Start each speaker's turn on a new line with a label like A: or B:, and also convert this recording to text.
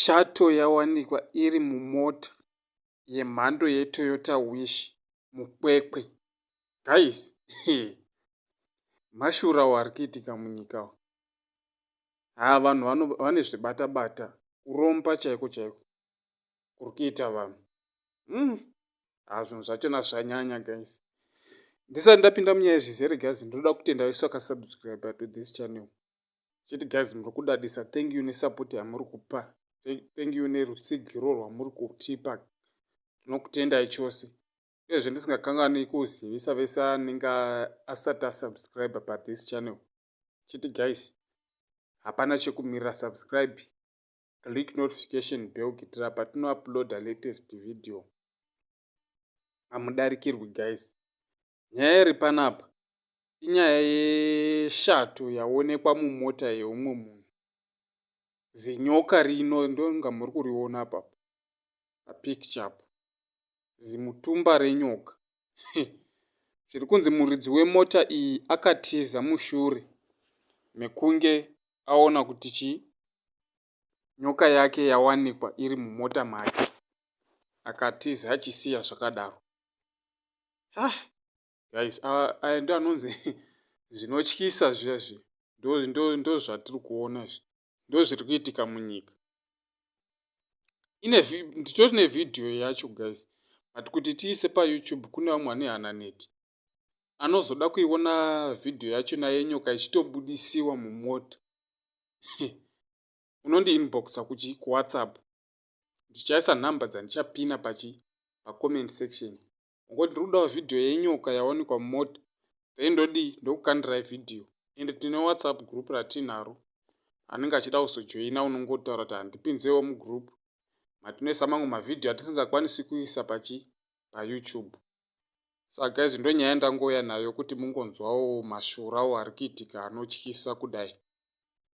A: Shato yawanikwa iri mumota yemhando yeToyota Wish muKwekwe. Guys, mashura awo ari kuitika munyika awo. Haa vanhu vane zvibata-bata, kuromba chaiko chaiko. kuri kuita vanhu mm haa ah, zvinhu zvachona zvanyanya guys ndisati ndapinda munyaya zvizere guys ndinoda kutenda vese vakasubscribe to this channel chiti guys muri kudadisa thank you nesupport yamuri kupa thank you nerutsigiro rwamuri kutipa tinokutendai chose uyezve ndisingakangani kuzivisa vese anenge asati asubscribe pa this channel chiti guys hapana chekumirira subscribe click notification bell kuitira patino uploader latest video hamudarikirwi guys nyaya iri panapa inyaya yeshato yaonekwa mumota yeumwe munhu zinyoka rino ndonga muri kuriona papa picture apo zimutumba renyoka zviri kunzi muridzi wemota iyi akatiza mushure mekunge aona kuti chi nyoka yake yawanikwa iri mumota make akatiza achisiya zvakadaro ah, guys aya ndo anonzi zvinotyisa zviya zviya ndozvatiri kuona izvi ndozviri kuitika munyika ine nditori nevhidhiyo yacho guys but kuti tiise payoutube kune vamwe vane hananeti anozoda kuiona vhidhiyo yacho naye nyoka ichitobudisiwa mumota unondi inboxa kuchi kuwhatsapp ndichaisa nhamba dzandichapina pachi pacoment section Ungoti ndiri kudawo video yenyoka yawanikwa mumota then ndodii ndokukandirai video ende tine whatsapp group ratinaro anenge achida kuzojoina unongotaura kuti handipinzewo mugroup matinoisa mamwe mavhidhiyo atisingakwanisi kuisa pachi payoutube saka guys ndonyaya ndangouya nayo kuti mungonzwawo mashurawo ari kuitika anotyisa kudai